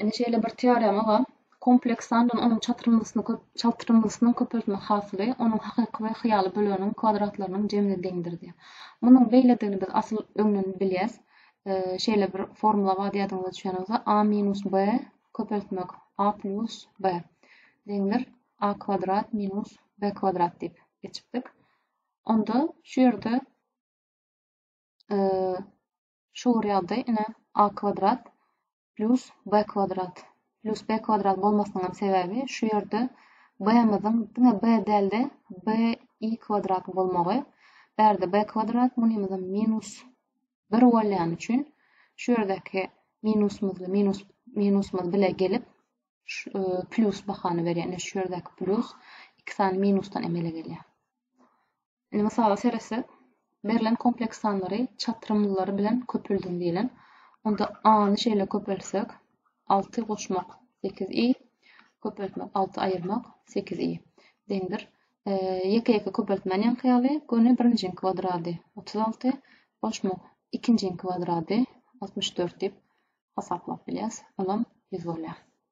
Indi şeýle bir teorema bar. Kompleks sandan onuň çatyrmasyny köp çatyrmasynyň köpeltme hasyly onuň hakyky we hyýaly böleginiň kwadratlarynyň jemine deňdir diýýär. Munuň beýledigini biz asyl öňden bilýäs. Şeýle bir formula bar ýadyňyza düşýän bolsa a minus b köpeltmek a plus b deňdir a kwadrat minus b kwadrat diýip geçipdik. Onda şu ýerde Şu bir ýagdaý, ine, a kwadrat plyus b kwadrat plyus b kwadrat bolmasynyň hem sebäbi şu ýerde b-miziň diňe b däl-de, b i kwadrat bolmagy. Bärde b kwadrat munymyzam minus bir bolýany üçin şu ýerdäki minusymyzly minus minusymyz bile gelip e, plyus bahany berýär. Ine şu ýerdäki plyus iki sany minusdan emele gelýär. Indi mysala seretsek, berlen kompleks sanlary çatrymlylary bilen köpeldiň diýlen. Onda a-ny şeýle köpeltsek, alty goşmak sekiz i, köpeltmek alty aýyrmak sekiz i deňdir. Ýeke-ýeke köpeltmäni ýaňky ýaly, göni birinjiň kwadrady otuz alty, goşmak ikinjiň kwadrady altmyş dört diýip hasaplap bilýäs, olam ýüz bolýar.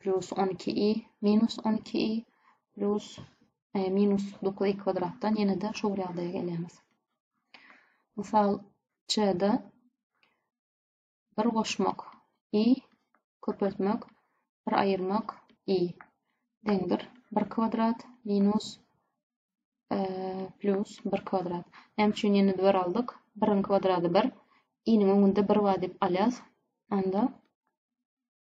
plus on iki i minus on iki i plus e, minus dokuz i kvadratdan ýene de şu bir ýagdaýa gelýämiz mysal çde bir goşmak i köpeltmek bir aýyrmak i deňdir bir kwadrat minus e, plus bir kwadrat näme üçin ýene bir aldyk biriň kwadrady bir iniň öňünde bir bar diýip alýas anda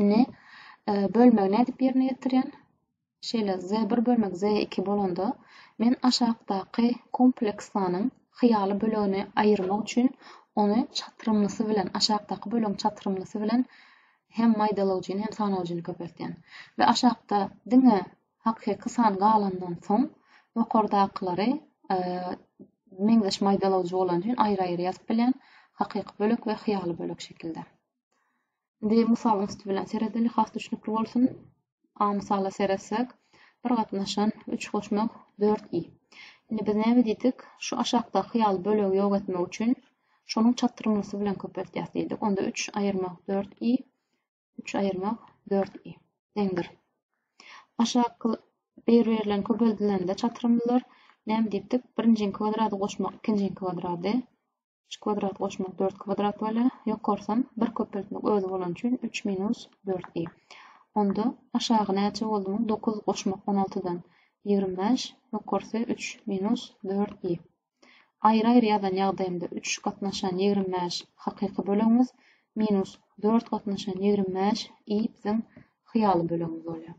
Indi bölmegi nädip ýerine ýetirýän? Şeýle Z1 bölmek Z2 bolanda men aşakdaky kompleksanyň hyýaly bölegini aýyrmak üçin ony çatrymlysy bilen aşakdaky bölegiň çatrymlysy bilen hem maýdalawjyny hem sanawjyny köpeltýän. We aşakda diňe hakyky san galandan soň ýokardakylary e, meňzeş maýdalawjy bolan üçin aýry-aýry ýazyp bilýän hakyky bölek we hyýaly bölek şekilde. Indi mysalyň üsti bilen seredeli, has düşnükli bolsun. A mysala seretsek, bir gatnaşan üç goşmak dört i. Indi biz näme diýdik? Şu aşakdaky ýaly bölegi ýok etmek üçin şonuň çatrymlysy bilen köpeltýäs diýdik. Onda üç aýyrmak dört i, üç aýyrmak dört i deňdir. Aşaky bir birilen köpeldilende çatrymlylar näme diýipdik? Birinjiň kwadrat goşmak ikinjiň kwadrady Üç kwadrat goşmak dört kwadrat bolýar. Ýokarsam bir köpeltmek özi bolany üçin üç minus dört diý. Onda aşagy näçe boldumy? Dokuz goşmak on altydan ýigrimi bäş, ýokarsy üç minus dört diý. Aýry-aýry ýazan ýagdaýymda üç gatnaşan ýigrimi bäş hakyky bölegimiz, minus dört gatnaşan ýigrimi bäş i biziň hyýaly bölegimiz bolýar.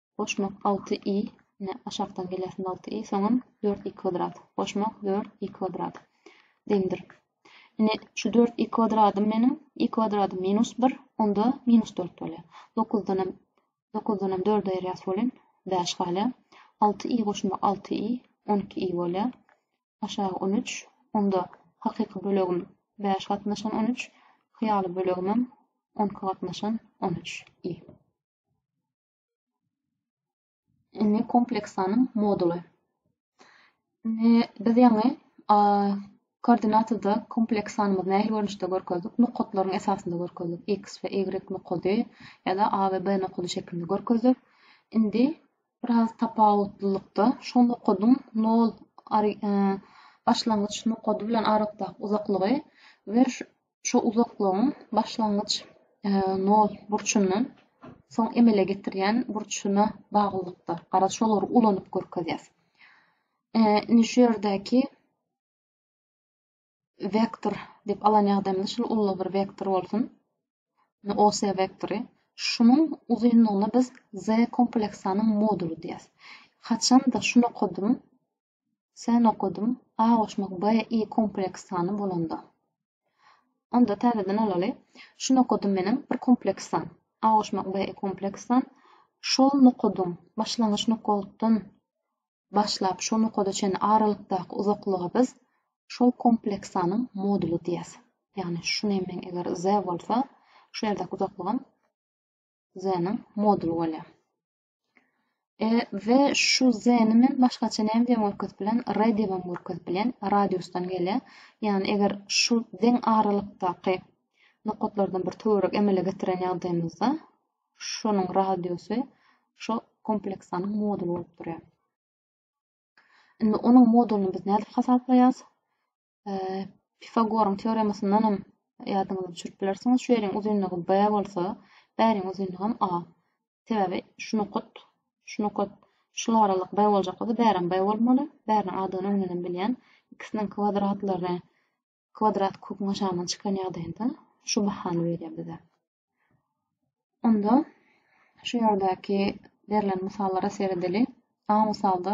Goşmak alty i, ine, aşakdan gelýär alty i, soňam dört i kwadrat. Goşmak dört i kwadrat deňdir. Ine, şu dört i kwadradym meniň, i kwadradym minus bir, onda minus dört bolýar. Dokuzdanam, dokuzdanam dördi aýyrýas welin, bäş galýar. Alty i goşmak alty i, on iki i bolýar. Aşagy on üç, onda hakyky bölegim bäş gatnaşan on üç, hyýaly bölegimem on iki gatnaşan on üç i. Indi kompleksanyň moduly. Indi biz ýaňy koordinatada kompleks sanymyzy nähili görnüşde görkezdik? Nokatlaryň esasynda görkezdik. X we Y nokady ýa-da A we B nokady şeklinde görkezdik. Indi biraz tapawutlylykda şu nokadyň 0 e, başlangyç nokady bilen aralykdaky uzaklygy we Şu uzaklygyň başlangyç nol burçundan soň emele getirýän burçuna baglylykda. Garaz, şolary ulanyp görkezýäs. Indi şu ýerdäki vektor diýip alan ýagdaýymyzda şul ulla bir vektor bolsun. OS vektory. Şunuň uzynlygyna biz Z kompleksanyň moduly diýýäs. Haçanda şu nokadyň Sen okadym A goşmak B I kompleks sany bolanda. Onda täzeden alaly. Şu nokadym meniň bir kompleks san. A goşmak B I kompleks san. Şol nokadyň başlangyç nokatdan başlap şo nokada çenli aralykdaky uzaklyga biz şol kompleks sanyň moduly diýýäs. Ýagny şu nemeň eger Z bolsa, şu ýerdäki uzaklygam Z-niň moduly bolýar. E, we şu Z-ni men başgaça näme diýen görkezip bilen, R diýibem görkezip bilen, radiusdan gelýär. Ýagny eger şu deň aralykdaky nokatlardan bir töwerek emele getiren ýagdaýymyzda şonuň radiusy şu kompleksanyň moduly bolup durýar. Indi onuň modulyny biz nädip hasaplaýarys? Pifagoryň teoremasyndan hem ýadyňyza düşürip bilersiňiz. Şu ýeriň uzynlygy B bolsa, bäriň uzynlygy hem A. Sebäbi şu nokat, şu nokat, şul aralyk B boljak bolsa, bärem B bolmaly. Bäriniň adyny öňden hem bilýän. Ikisiniň kwadratlary kwadrat köküň aşagyndan çykan ýagdaýynda şu bahany berýär bize. Onda şu ýerdäki berlen mysallara seredeli. A mysalda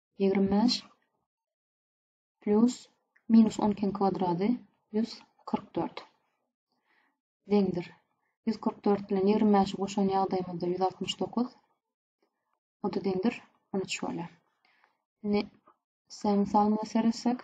Ýigrimi bäş plus minus on ikiň kwadrady ýüz kyrk dört deňdir. Ýüz kyrk dört bilen ýigrimi bäşi goşan ýagdaýymyzda ýüz altmyş dokuz o-da deňdir on üç bolýar. Indi s-e mysalymyza seretsek,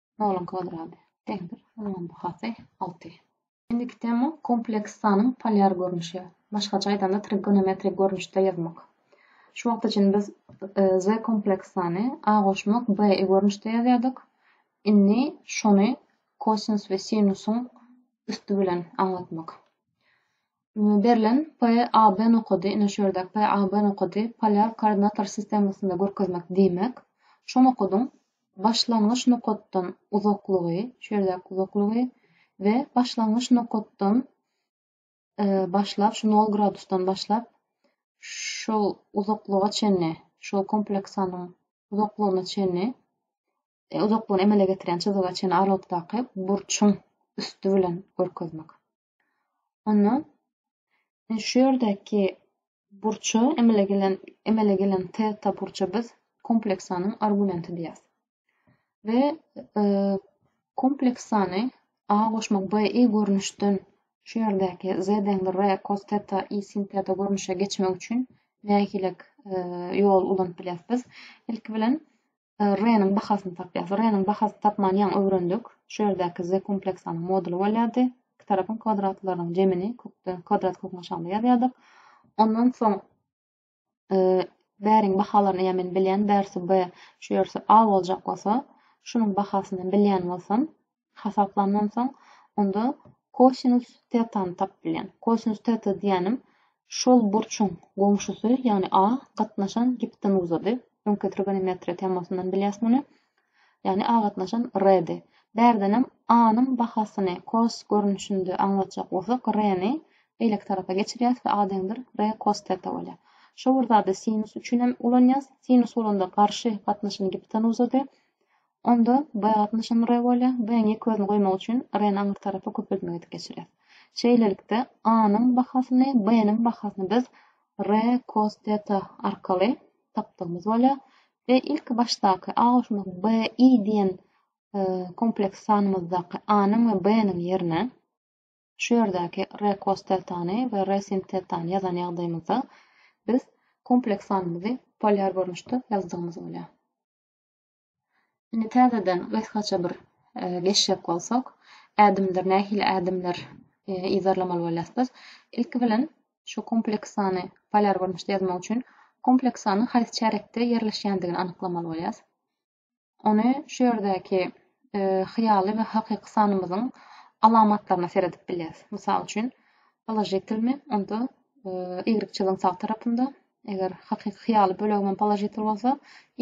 Noluň kwadratı deňdir. Noluň bahasy alty. Indiki tema kompleks sanyň polýar görnüşi. Başgaça aýdanda trigonometrik görnüşde ýazmak. Şu wagt üçin biz e, z kompleks sany a goşmak b e görnüşde ýazýardyk. Indi şony kosinus we sinusyň üsti bilen aňlatmak. Berlen PAB nokady, ine şu ýerdäki PAB nokady polýar koordinator sistemasynda görkezmek diýmek, şu nokadyň başlangyç nokatdan uzaklygy, şu ýerdäki uzaklygy we başlangyç nokatdan e, başlap, şu 0 gradusdan başlap şol uzaklyga çenli, şol kompleksanyň uzaklygyna çenli e, uzaklygyny emele getiren çyzyga çenli aralykdaky burçuň üsti bilen görkezmek. Onda e, şu ýerdäki burça emele gelen emele gelen teta burça biz kompleks sanyň argumenti diýýäs. We e, kompleks sany a goşmak b i görnüşden şu ýerdäki z deňdir r cos teta i sin teta görnüşe geçmek üçin nähilek e, ýol ulanyp bilýäs biz? Ilki bilen R-niň bahasyny tapýas. R-niň bahasyny tapmany ýaňy öwrendik. Şu ýerdäki Z kompleksanyň moduly bolýardy. Iki tarapyň kwadratlarynyň jemini kökde, kwadrat köküň aşagynda ýazýardyk. Ondan soň e, bäriň bahalaryny ýa men bilýän, bärsi B, şu ýersi A boljak bolsa, şunuň bahasyny bilýän bolsam, hasaplandan soň onda kosinus tetany tapyp bilýän. Kosinus teta diýenim şol burçuň goňşusy, ýagny A gatnaşan gipotenuzady. Öňki trigonometriýa temasyndan bilýäs muny. Ýagny A gatnaşan R-di. Bärdenem A-nyň bahasyny kos görnüşinde aňlatjak bolsak, R-ni beýleki tarapa geçirýäs we A deňdir R kos teta bolýar. Şo bir zady sinus üçin hem ulanýas. Sinus bolanda garşy gatnaşan gipotenuzady. Onda baýatly nişan re bolýar, B-niň ýek özüni goýmak üçin re-ni aňryk tarapa köpeltmek edip geçirýär. Şeýlelikde, A-nyň bahasyny, B-niň bahasyny biz re kos teta arkaly tapdygymyz bolýar we ilki başdaky A goşmak B-i diýen kompleks sanymyzdaky A-nyň we B-niň ýerine şu ýerdäki re kos tetany we re sin tetany ýazan ýagdaýymyzda biz kompleks sanymyzy polýar görnüşde ýazdygymyz bolýar. Indi täzeden gysgaça bir geçjek bolsak, ädimdir nähili ädimler yzarlamaly bolýas biz? Ilki bilen şu kompleks sany polýar görnüşde ýazmak üçin kompleks sanyň haýsy çärekde ýerleşýändigini anyklamaly bolýas. Ony şu ýerdäki hyýaly we hakyky sanymyzyň alamatlaryna seredip bilýäs. Mysal üçin, položitilmi onda y çyzygyň sag tarapynda, Eger hakyky hyýaly bölegimem položitel bolsa,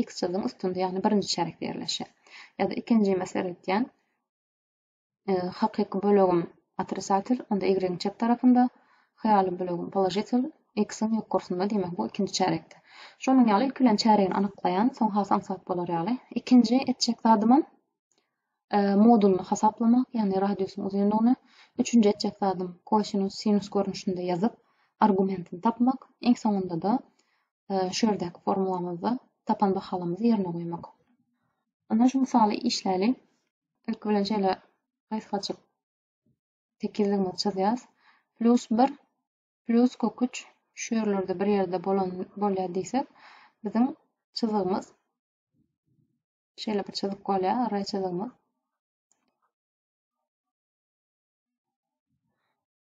x çyzgyň üstünde, ýagny birinji çärekde ýerleşer. Ýa-da ikinji mesele etýän, hakyky bölegim otrisatel, onda y-iň çep tarapynda, hyýaly bölegim položitel, x-iň ýokarsynda, diýmek bu ikinji çärekde. Şonuň ýaly ilki bilen çäregini anyklaýan, soň has aňsat bolar ýaly. Ikinji etjek zadymam e, modulyny hasaplamak, ýagny radiusyň uzynlygyny, üçünji etjek zadym kosinus, sinus görnüşinde ýazyp, argumentini tapmak, iň soňunda-da e, şu ýerdäki formulamyzda tapan bahalarymyzy ýerine goýmak. Onda şu misaly işläli. Ilki bilen şeýle gysgaçyk tekizligimizi çyzýas. Plus 1 plus kök 3 şu ýerlerde bir ýerde bolan bolýar diýsek, biziň çyzygymyz Şeýle bir çyzyk bolýar, array çyzygymyz.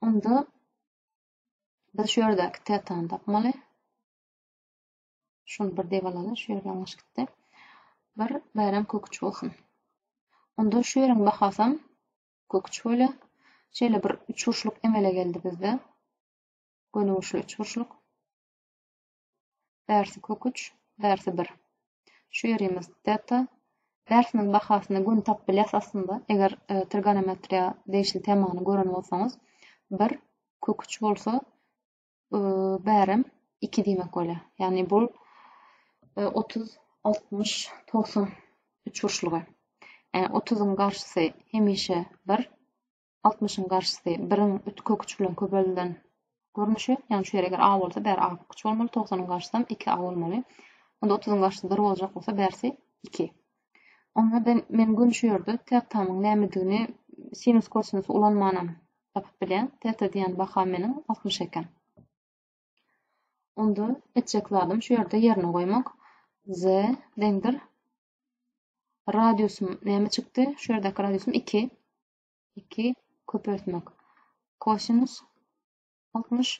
Onda biz şu ýerdäki tetany tapmaly. Şunu bir diýip alaly, şu ýer ýalňyş gitdi. Bir bärem köküç bolsun. Onda şu ýeriň bahasam köküç bolýar. Şeýle bir üçburçluk emele geldi bizde. Gönügüşli üçburçluk. bärsi köküç, bärsi bir. Şu ýerimiz teta. Bärsiniň bahasyny göni tapyp bilýäs aslynda. Eger trigonometriýa degişli temany gören bolsaňyz, bir köküç bolsa, bärem iki diýmek bolýar. Ýagny bu 30, 60, 90 üçburçlugy. 30-yň garşysy hemişe bir, Altmyşyň garşysy biriň üç köküç bilen köpeldilen görnüşi. Ýagny şu ýer eger A bolsa bäri A köküç bolmaly, togsanyň garşysam iki A bolmaly. Onda otuzyň garşysy bir boljak bolsa bärsi iki. Onda ben, men göni şu ýerde tetamyň nämedigini sinus kosinus ulanmanam tapyp bilýän. Teta diýen baham meniň altmyş eken. Onda etjek zadym şu ýerde ýerine goýmak. Z deňdir. Radiusym näme çykdy? Şu ýerdäki radiusym iki. iki, köpeltmek. Kosinus altmyş,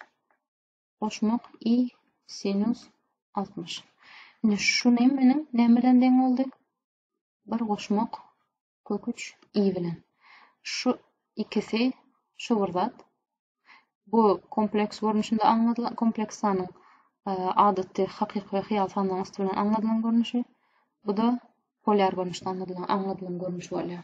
goşmak, i, sinus altmyş. Indi şu nemmeniň näme bilen deň boldy? Bir goşmak kök üç i bilen. Şu ikisi şu bir zat. Bu kompleks görnüşinde aňladylan kompleks sanyň e, adaty hakyky we hyýal sanlaryň üsti bilen aňladylan görnüşi. Bu da polýar görnüşde aňladylan aňladylan görnüş bolýar.